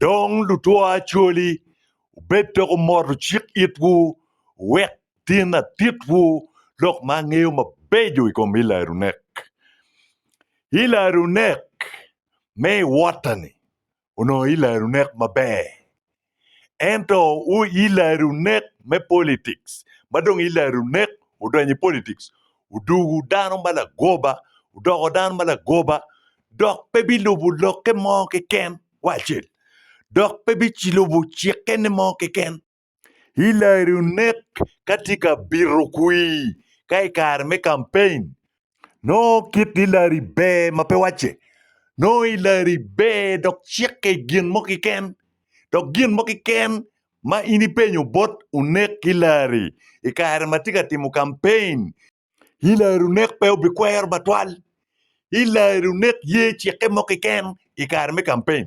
Dong lutwa Acholi, wubed dok wumoto cik itwu, wek tin atitwu lok ma angeyo mabeco i kom Hilary Onek. Hilary Onek me i Wota-ni onongo Hilary Onek maber. ento Hillary onek me politics ma dong Hillary onek odonyo i politics odugu dano ma lagoba odoko dano ma lagoba dok pe bilubu lokke mo keken wa acel dok pe bicilubu cikke ne mo keken Hillary onek ka tye ka bito kwir ka i kare me campaign Nongo kit i lari ber ma pe wacce. Nongo i lari ber dok cikke i gin mo kiken. Dok gin mo kiken ma in ipenyo bot unek ki lari i kare ma tye ka timo kampein, i lari unek pe obikwero batwal. I lari unek ye cikke mo kiken i kare me kampein.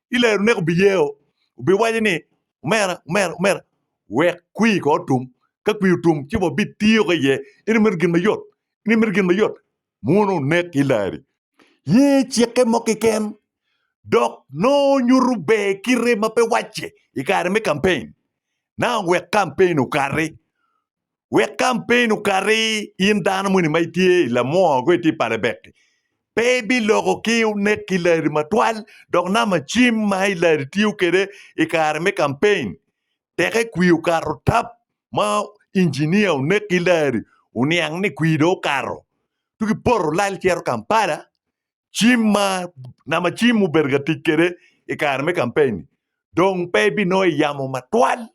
ilero nek obiyeo obiwaco ni omera omera omera wek kwir ko otum ka kwir otum ci wa bitiyo ki iye in imito gin mayot in imito gin mayot muno onek ki ileri ye cikke mo keken dok nongo nyuto ber kite ma pe wacce ikare me campaign now wek campaign okati wek kampen okati in dano moni ma itye i Lamwor ko itye i Palebek-ki. Pe ibiloko ki onek ki lari matwal dok namba cim ma i lari tiyo kwede i kare me kampen teke kwir okato tap ma injinia onek ki lari oniang ni kwir dong okato. Tugi poto lal cito Kampala cim ma nama cim mubedo ka tic kwede i kare me kampen dong pe ebinongo i yamo matwal.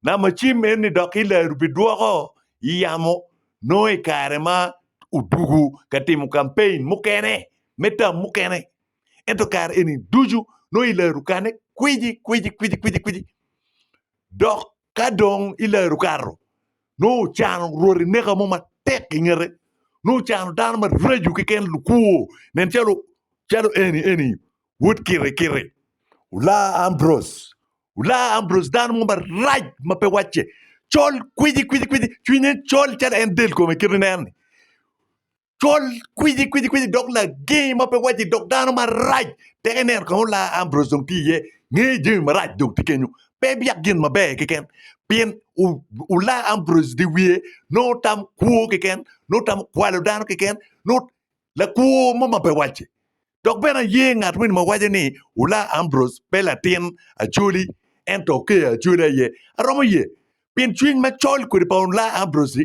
Nama cim eni dok Hillary bidwoko i yamo nongo i kare ma odugu ka timo kampen mukene me tam mukene. Ento kare eni ducu nongo Hillary okane kwiji kwiji kwiji kwiji kwiji dok Ka dong ilaro kato, nongo ocano rwoti neka mo matek i ngete, nongo ocano dano maraco keken lukwor, nen calo calo eni eni wod Kirikiri, Olar Ambrose, Olar Ambrose dano mo marac ma pe wacce, col kwici kwici kwici, cwinye col calo en del kome kit ineno-ni. col kwici kwici kwici dok lager ma pe wacce dok dano marac tek ineno kong olar Ambrose dong tye iye ngeye jami marac dong tye kenyo pe biyak gin maber keken pien u- olar Ambrose dye wiye nongo tam kwo keken nongo tam kwalo dano keken nongo lakwo mo ma pe wacce dok bene aye ngat wini ma waco ni olar Ambrose pe latin Acholi ento okeyo Acholi aye aromo ye pien cwiny macol kodi pa olar Ambrose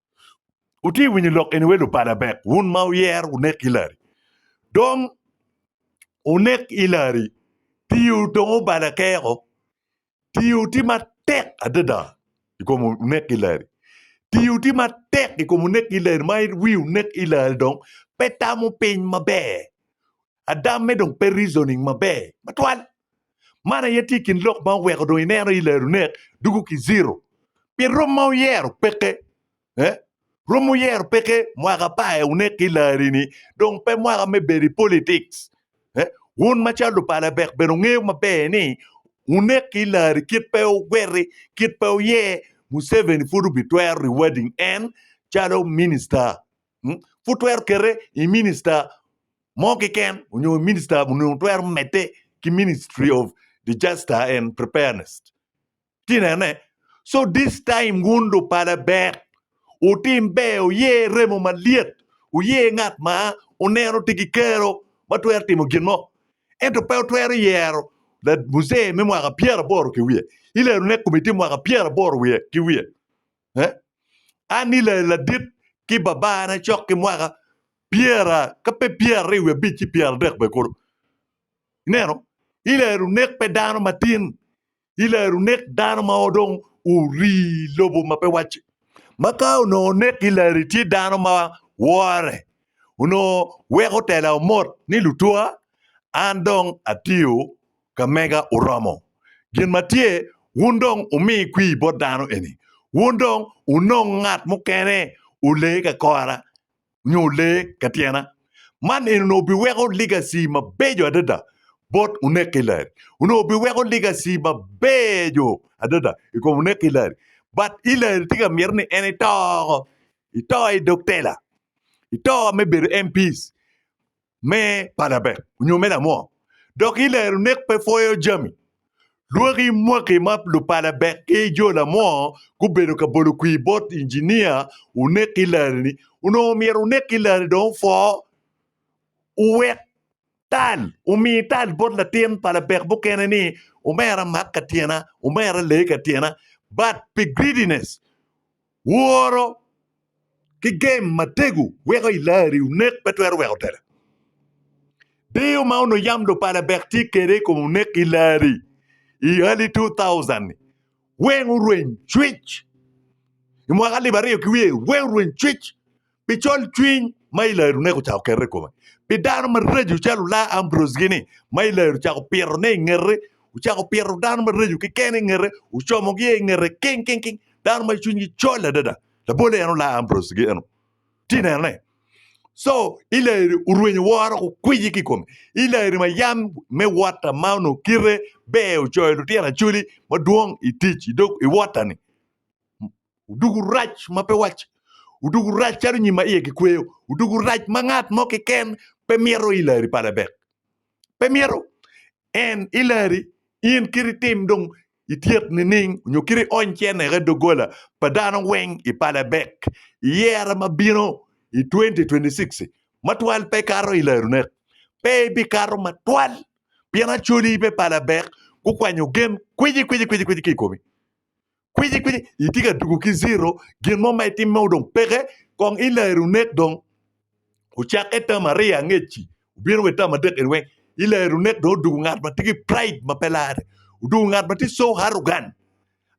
Wutye winyo lok eni we lubala bek, wun ma wuyero wunek Hillary. Dong wunek Hillary, tiwu dong obala keko. Tiwu tye matek adada i kom wunek Hillary. Tiwu tye matek i kom wunek Hillary ma wi wunek Hillary dong pe tamo piny maber. Adamme dong pe reasoning maber matwal. Man aye tye kin lok ma oweko dong ineno i lero nek dugu ki zero. Pien rom ma wuyero peke eh? Rom wuyero peke mwaka pa eh wunek ki lari ni dong pe mwaka me bedo i politics eh? Wun macalo lupala bek bene wungeyo maber ni wunek ki lari kit pe wugweri kit pe wuye Museveni pud obi twero rewading en calo minister. Pud twero kete i minista mo keken onyo minista onongo twero mede ki ministry of disaster and preparedness ci inene so this time wun lupala ber wutim ber wuyer remo malyet wuyer ngat ma wuneno tye ki kero ma twero timo gin mo ento pe wutwero yero muzee me mwaka pyeraboro ki wiye i lerone komiti mwaka pyeraboro ki wiye An i ladit ki babana cok ki mwaka pyera ka pe pyeraryo wiye abic ci pyeradek bene kulu. Ineno? I lero nek pe dano matin, i lero nek dano ma dong orii lobo ma pe wacci. Ma ka onongo nek i leri tye dano ma wore, onongo weko tela omot ni lutwa an dong atiyo Ka mega oromo gin ma tye, wun dong wumi kwir bot dano eni. Wun dong wunong ngat mukene olee ka kora nyo olee ka tyena. Man eni onongo biweko legacy mabeco adada bot Onek ki Larry. Onongo biweko legacy mabeco adada i kom Onek ki Larry. But Hillary tye ka mito ni en ito oko. Ito i dog tela. Ito me bedo MPs. me panabek onyo me lamo dok i lero nek pe pwoyo jami. Lwaki mwaki ma lupanabek ki jo lamo gubedo ka bolo kwir bot injinia onek ki lari ni onongo myero onek ki lari dong opwo owek tal omi tal bot latin panabek mukene ni omera mak ka tyena omera lee ka tyena but pi greediness Woro ki gem matego weko i lari onek pe twero weko tela. Deyo ma onongo yam lupala bek tye kede i kom onek i lari i early 2000-ni weng orweny cwic. I mwaka alip aryo ki wiye weng orweny cwic. pi colcwiny ma Ilaeri oneko ocako kete i kome, pi dano maraco calo Olaa Ambrose-gini ma Ilaeri ocako pitone i ngete, ocako pito dano maraco keken i ngete, ocomogi i ngete king king king, dano ma cwinygi col adada, labolle en Olaa Ambrose-gi eno, ci inene. Co Ilaeri orwenyo woro ki kwici ki i kome, Ilaeri ma yam me wota ma onongo kite ber ocoyo lutino Acholi madwong i tic i dog i wota-ni. Odoko rac ma pe wacce, odoko rac calo nyim ma iye kikweyo, odoko rac ma ngat mo keken pe mito i lari pa Labek. Pe mito en i lari in kit itim dong ityek nining nyo kit iony cente ki i doggola pa dano weng i pa Labek i yero ma bino i 2026-ci. Matwal pe ikato i lari onek, pe ibikato matwal pien acoli pe pa Labek gukwanyo gen kwici kwici kwici kwici ki i komi. kwici kwici itye ka tugo ki ziro gin mo ma itimme dong peke kong ilero onek dong ocakke tam aryo angec-ci obino wa ki tam adek eni weng ilero onek dong odwogo ngat ma tye ki pride ma pe larre odwogo ngat ma tye so arrogant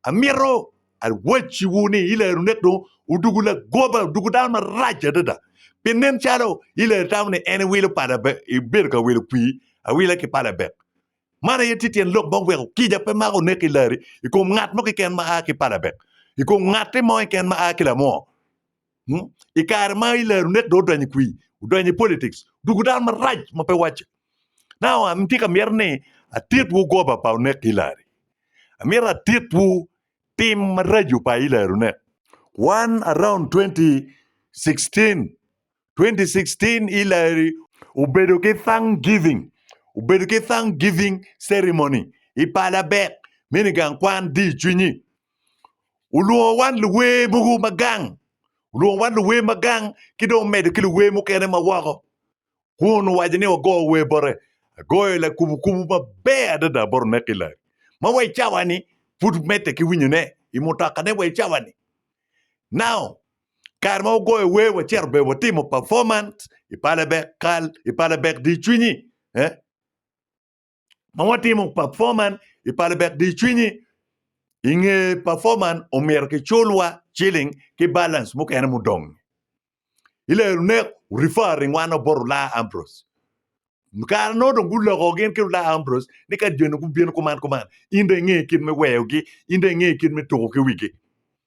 amito awacciwu ni ilero onek dong odwogo lagoba odwogo dano marac adada pi nen calo ilero itamo ni en iwilo pala bene ibedo ka wilo pii awila ki pala bene. Man aye tye tyen lok ma oweko kica pe mako onek i lari i kom ngat mo keken ma a ki palabek, i kom ngatti mo keken ma a ki lamoo. Hmm? I kare ma i lari onek dong odonyo i kwii, odonyo i politics, odwogo dano marac ma pe wacce. Now an tye ka myero ni atitwu goba pa onek i lari. Amyero atitwu tim maraco pa i lari onek. Wan around 2016 2016 Hillary obedo ki Thanksgiving obedo ki Thanksgiving ceremony i Palabek me nigang kwan di cwinyi. Olwongo wan luwer mogo ma gang, olwongo wan luwer ma gang ki dong omedo ki luwer mukene ma woko. Kun owaco ni wago wer bote. Agoyo lakubo kubo maber adada bot onek Hillary. Ma wa i cawani pud medde ki winyone i mutokane wa i cawani. Now, Kare ma wagoyo wer, wacito bene watimo performance i pala bek kal, i pala bek di cwinyi. Eh? Ma watimo performance i pala bek di cwinyi, i nge performance omyero kiculwa ciling ki balance mukene mudong. Ilero ne referring wano bot Olaa Ambrose. Kare no dong guloko gin ki Olaa Ambrose ni ka joni gubino kuman kuman, in dong inge kit me weyogi, in dong inge kit me tuko ki wigi.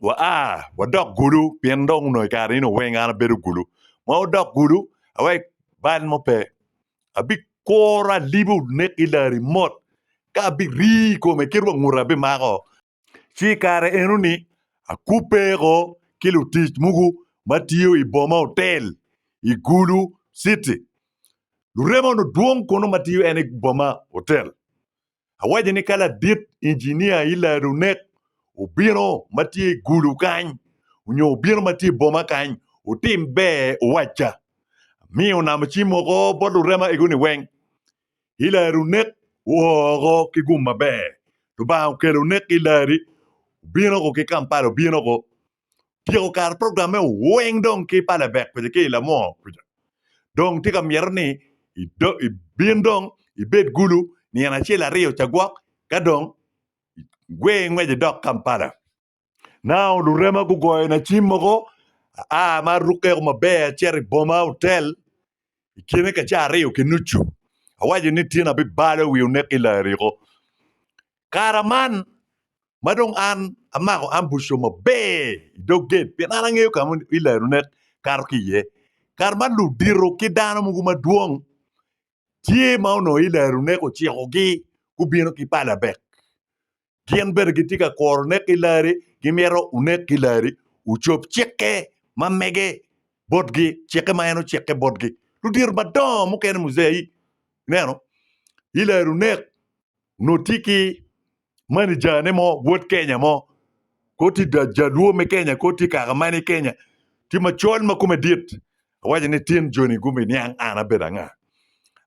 wa a wadok gudo pien dong onongo i kare eno weng an abedo gudo ma wadok gudo awe bal mo pe abikuro alibo nek ki lari mot ka abirii i kome kit wa nguti abimako ci i kare eno ni akubbe ko ki lutic mogo ma tiyo i boma otel i gudo citi lurema onongo dwong kunu ma tiyo en i boma otel Awaco ni ka ladit injinia Hilliard onek obino ma tye i gulu kany onyo obino ma tye i boma kany otim ber owacca. Amiyo onamo cim oko bot lurema egoni weng. Hilliard onek oo oko ki gum maber. Lubanga okelo onek Hilliard obino ko ki Kampala obino ko tyeko kare program eo weng dong ki pa labek kuca ki lamo kuca dong tye ka myero ni ibin dong ibed gulu nino acel aryo ca gwok ka dong igwe ngwec idok Kampala. Nao lurema gugoyo na cim mogo aa ma arukke maber acito i boma hotel i kine ka caa aryo ki nucu, awaco ni tyen abibalo i wi onek i Lariko. Kara man ma dong an amako ambuco maber i dog gate pien an angeyo ka ma i larunek kato ki iye. Kara man ludito ki dano mogo madwong tye ma onongo i larunek ocikogi gubino ki palabek. gin bene gitye ka kuro nek ki larre, gimito wunek ki larre, wucob cikke ma mege botgi, cikke ma en ocikke botgi. Ludito madongo mukene muze, i, ineno, i larre wunek, onongo tye ki manijane mo, wod Kenya mo, kor tye ja- jaluo me Kenya, kor tye kaka mani Kenya, tye macol ma kome dit. Awaco ni tin joni gubiniang an abedo anga.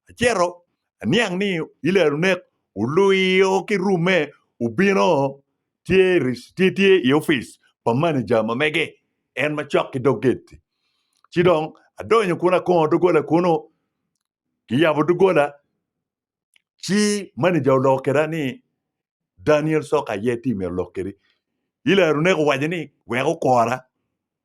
Acito aniang ni Ilel onek, oluyo ki rume obino tye tye i opic pa maneja ma mege en macok ki dog gate-ti. Ci dong adonyo kun akongo doggola kunu, kiyabo doggola ci maneja oloko keda ni Daniel Soka aye ti myero olok kedi. Ilel onek owaco ni wek okora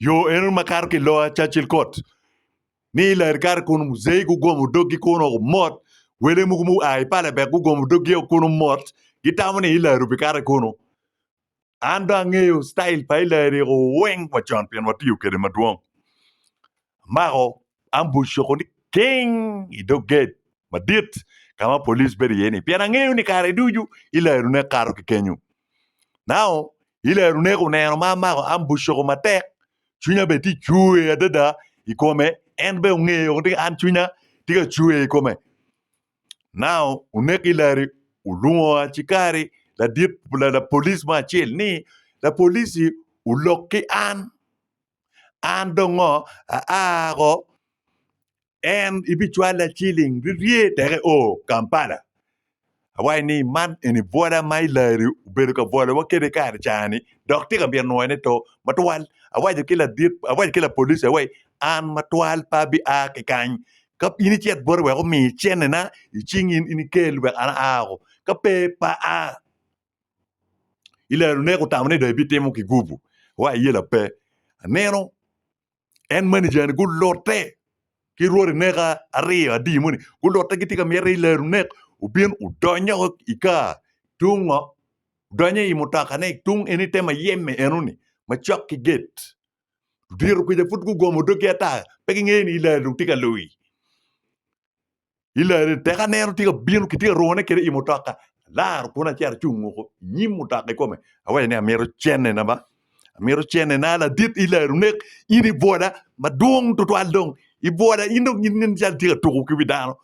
Yo eno makato ki loya Churchill Court ni lari kare kun Muzei gugomo doggi kun oko mot, wele mogo mu a i Palebek gugomo doggi oko kun omot gitamo ni Hillary obikato kunu. An dong angeyo style pa Hillary eko weng wa con pien watiyo kede madwong. Amako ambush oko ni king i dog gate madit kama police bedo iye ni pien angeyo ni kare ducu Hillary ne kato ki kenyu. Now I lerone, oneno ma amako ambucoko matek, cwinya bene tye ka cwer adada i kome. En bene ongeyo ni an cwinya tye ka cwer i kome. Nao oneko i leri, olwongo acikari lapolic mo acel ni, Lapolic-ci olok ki an. an dong ngo aako en ibicwala ciling rye dok io Kampala awaci ni man eni bwola ma ilarri obedo ka bwolawa kwede kare cani dok tye ka myero nwoyone to matwal awaco ki ladit awaco ki lapolici ni an matwal pe abi a ki kany ka in icit boti wek omi cene na icing in ikel wek an aao ka pe pe aa. i laro ne kutamo ni dong ibitimo ki gubu wa iye lape aneno en manager ni gulote ki rwodi neka aryo adi moni gulote gitye ka myete i laro nek obin odonyo woko i kar tung ngo donyo i mutoka ne tung eni te mayeme enoni macok ki gate diro kuca pud gugomo dog gi ata pe gingeyo ni i laro dong tye ka luyi. Ilareni tek aneno tye ka bino kitye ka rwone kede i mutoka alaro kun acito acung woko i nyim mutoka ikome awaco ni amito cene na ba amito cene na ladit ilari onek in ibwola madwong tutwal dong ibwola in dong inen calo itye ka tuko ki wi dano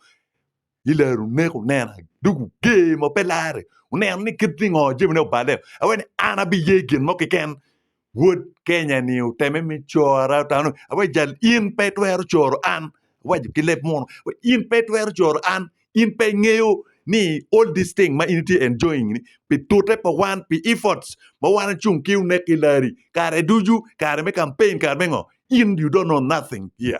ilari onek onena dog oger ma pe lare oneno ni kit ni ngo jamine oballe awaco ni an abiye gin mo keken Wod Kenya-ni oteme me cora, otamo ni, Awaco jal, in pe itwero coro an. Awaco ki leb muno, Awaco, in pe itwero coro an. In pe ingeyo ni all these things ma in itye enjoying ni, pi tute pa wan, pi efforts ma wan ecung ki onek ki lari, kare ducu, kare me campaign, kare me ngo, in you don't know nothing here.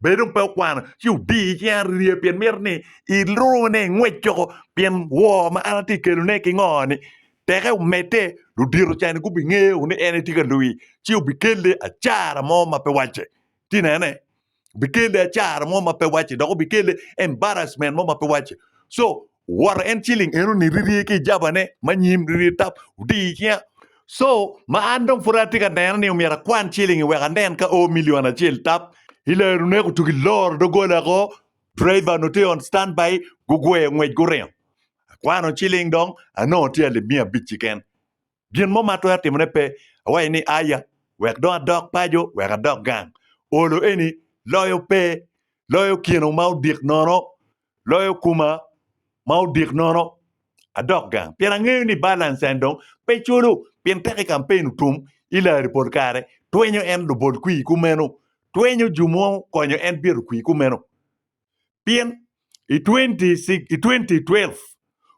Bed dong pe wukwano ci wudi i cinga rye pien mito ni ilurune i ngwec coko pien woo ma an atye ka kelone ki ngo-ni. Teke omedde, ludito cani gubingeyo ni en aye tye ka luwi, ci wubikelle acara mo ma pe wacce. Ti nene? Wubikelle acara mo ma pe wacce dok wubikelle embarrassment mo ma pe wacce. So, woro en ciling eno ni rirye ki jaba ne ma nyim rirye tap odi icinga so ma an dong pud atye ka neno ni omyero akwan ciling wek anen ka o million acel tap ilero ne kutugi loro dogola ako driver onongo tye on stand by gugweyo ngwec guringo akwano ciling dong anongo tye alip miya abic kiken Gin mo ma atwero timone pe. Awaco ni, 'Aya, wek dong adok paco, wek adok gang. Olo eni loyo pe, loyo kino ma odik nono, loyo kuma ma odik nono. Adok gang pien angeyo ni balance en dong pe culo, pien tek i kampen otum i lari pol kare. Twenyo en lubol kwii kumeno, twenyo ju mo konyo en byero kwii kumeno. pien i twenti twelve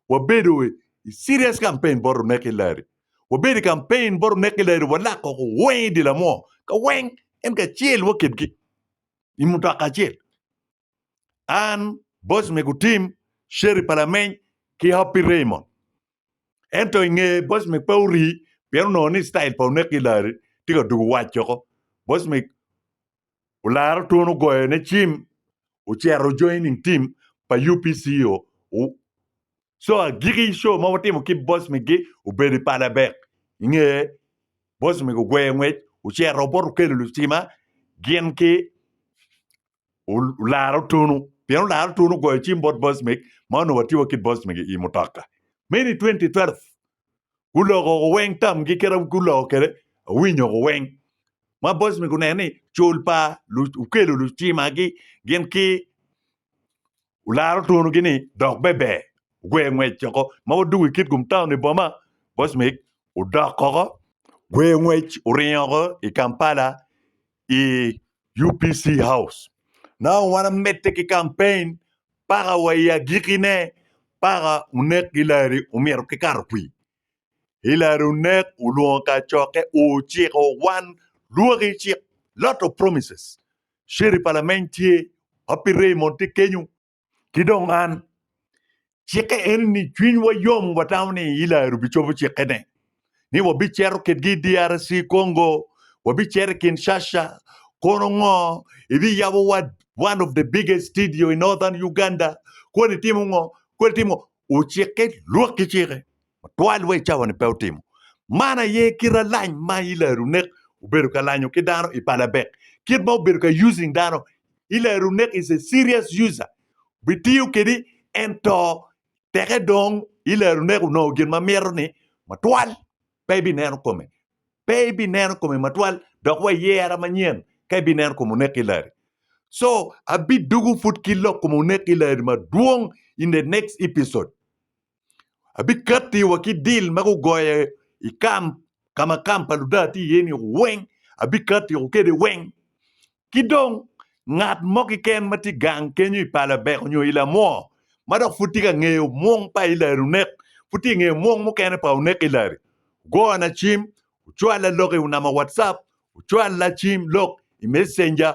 wabedo i cirias kampen bot onek ki lari, wabedo i kampen bot onek ki lari walako weng i dye lamo ka weng en kacel waketgi i mutoka acel an, boc me gutim, Sherry Palameny ki Happy Raymond ento i nge boc me pe orii pien onongo ni citayil pa onek ki lari tye ka dugo waco boc me olaro twon ogoyo ne cim ocero joining team pa UPC o co agiki co ma watimo ki boss migi obedo i pala bek inge boss migi ogweyo ngwec ocero oboto okelo lucima gin ki olaro twonu pien olaro twonu ogoyo cim bot boss mig ma onongo watye wa ki boss migi i mutoka meno i 2012 guloko weng tamgi kit ma guloko kwede awinyo weng ma boys ni guneno ni cul pa okelo lucimagi gin ki olaro twongi ni dok beber ogwer ngwec woko ma wadwogo i Kitgum town i boma boys odok woko ogwer ngwec oringo woko i Kampala i UPC House. Nongo wan amedde ki kampein paka wa i agikine paka onek Hillary omito ki kato kwi. Hillary onek olwongo kacokke ociko wan lwoki cik lot of promises. Sheriff Alameny tye, Happy Raymond tye kenyo, Ki dong an, cikke en ni cwinywa yom watamo ni Hillary obicobo cikkene, ni wabicito kitgi i DRC Congo, wabicito i Kinshasa, kono ngo, ibiyabo wa one of the biggest studio in northern Uganda, kodi timo ngo, kodi timo ngo, ocikke lwak ki cikke. matwal wa i cawa-ni pe otimo. Man aye kit alany ma Ilaerunek obedo ka lanyo ki dano i Palabek, kit ma obedo ka using dano. Ilaerunek is a serious user, bitiyo kedi ento teke dong Ilaerunek onongo gin ma mito ni matwal pe ibineno kome, pe ibineno kome matwal dok wa iyera manyen ka ibineno kom onek Ilari. So abidugu pud ki lok kom onek Ilari madwong in the next episode. Abikatti wa ki dil ma gugoyo i kam ka ma kam pa Luda tye iye-ni weng, abikatti woko kwede weng. Ki dong, ngat mo keken ma tye gang kenyo i Palabek nyo i Lamwo ma dok pud tye ka ngeyo mwong pa Ilari onek, pud tye ka ngeyo mwong mukene pa onek Ilari, ogona cim, ocwalla lok i namba Whatsapp, ocwalla cim lok i Messenger,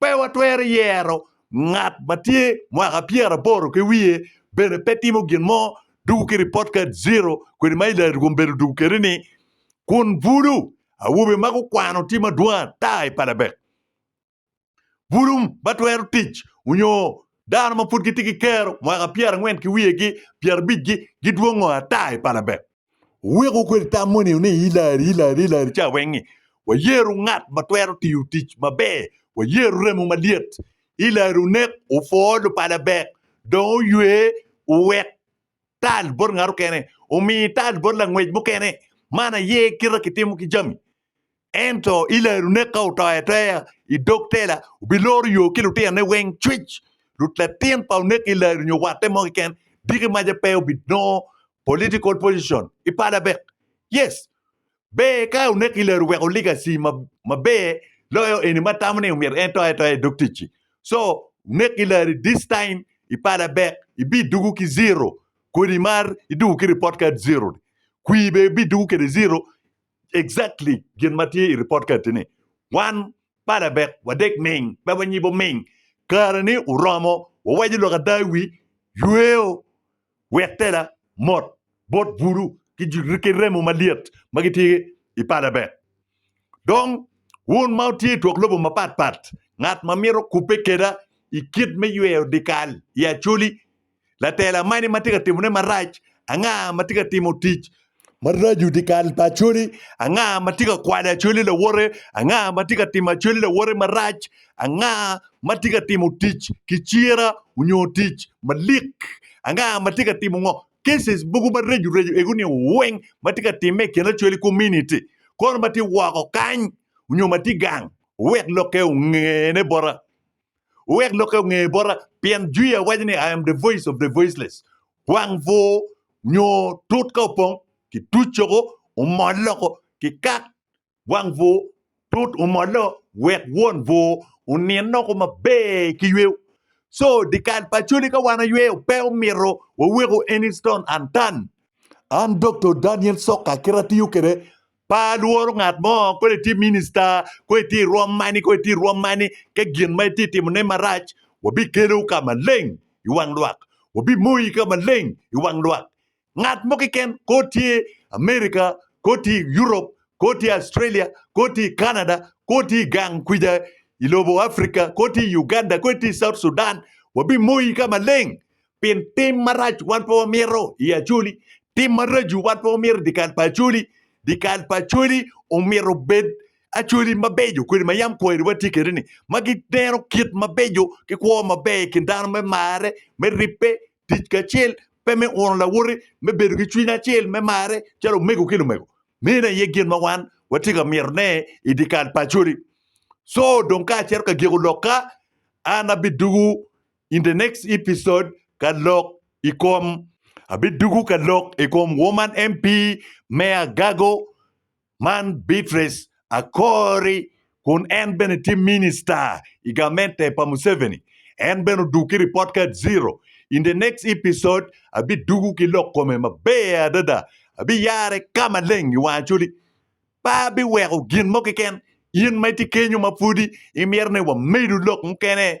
Pe watwero yero ngat ma tye mwaka pyeraboro ki wiye bene pe timo gin mo dwogo ki report card zero kwede ma ilari rwom bedo dwogo kwede ni kun bulu awobe ma gukwano tye madwong ata i Palabek. Bulu ma twero tic onyo dano ma pud gitye ki kero mwaka pyerangwen ki wiye gi pyerabic gi gidwongo ata i Palabek. Wuweko kwede tam moni ni i lari, i lari, i lari ca weng-ngi wayeru ngat ma twero tiyo tic maber, wayeru remo malyet. I lari onek opwo lupala bek, dong oywe owek tal bot ngat okene, omi tal bot langwec mukene. Man aye kite kitimo ki jami. Ento i larune ka otoyo atoya i dog tela, obiloro yo ki lutinone weng cwic. Rut latin pa oneko i lari nyo watte mo keken, diki maca pe obinongo political position i pala bek. Yes, ber ka oneko i lari weko legacy ma maber loyo eni ma tamo ni omyero en toyo atoya i dog ticci. So, oneko i lari this time i pala bek ibidugu ki zero kodi mar idugu ki report card zero ni. Kwir bene ibidugu kede zero Exactly gin ma tye i report card tye ni wan palabek wadek ming pe wanyibo ming kare ni oromo wawaco lok ada i wi yweo wek tela mot bot bulu ki remo malyet ma gitye i palabek dong wun ma wutye i twok lobo mapat pat ngat ma mito kubbe keda i kit me yweo dikal i Acholi Latela mani ma tye ka timone marac? Anga ma tye ka timo tic maraco dyekal pa Acholi? Anga ma tye ka kwalo Acholi lawote? Anga ma tye ka timo Acholi lawote marac? Anga ma tye ka timo tic ki cira onyo tic malik? Anga ma tye ka timo ngo? Cases mogo mareco reco ego ni weng ma tye ka timme i kin Acholi community kono ma tye woko kany onyo ma tye gang wek lokke ongene bota. Wuwek lokke onge bota, pien jwi awaco ni, I am the voice of the voiceless. Wang bur nyo tut ka opong ki tuc coko omol loko ki kat wang bur tut omollo wek won bur onin loko maber ki yweyo. So, dikal pa Acholi ka wan ayweyo pe omito waweko any stone unturned. An Doktor Daniel Soka kit atiyo kwede Pe alworo ngat mo, kodi itye minista, kodi itye i rwom mani, kodi itye i rwom mani, ka gin ma itye ka timone marac, wabikelo ka maleng i wang lwak, wabimoyi ka maleng i wang lwak. Ngat mo keken, kodi itye i Amerika, kodi itye i Europe, kodi itye i Australia, kodi itye i Canada, kodi itye i gang kwica i lobo Afrika, kodi itye i Uganda, kodi itye i South Sudan, wabimoyi ka maleng. Pien tim marac wan pe wamito i Acholi, tim maraco wan pe wamito i dyekal pa Acholi. Dyekal pa Acholi omyero obed Acholi mabeco kodi ma yam kweri watye kwede-ni, ma gineno kit mabeco ki kwo maber i kin dano me marre, me ribbe, tic kacel, pe me uno lawote, me bedo ki cwiny acel, me marre calo omego ki lumego. Meno aye gin ma wan watye ka mitone i dyekal pa Acholi. Co dong ka acito ka giko lok-ka, an abidwogo In the next episode ka lok i kom Abidugu ka lok i kom Woman MP me Agago man Beatrice Akori kun en bene tye Minister i gamente pa Museveni en bene odug ki report card zero in the next episode abidugu ki lok kome maber adada abiyare ka maleng i wang Acholi Pe abiweko gin mo keken. In ma itye kenyo ma pwodi imito ni wamedo lok mukene,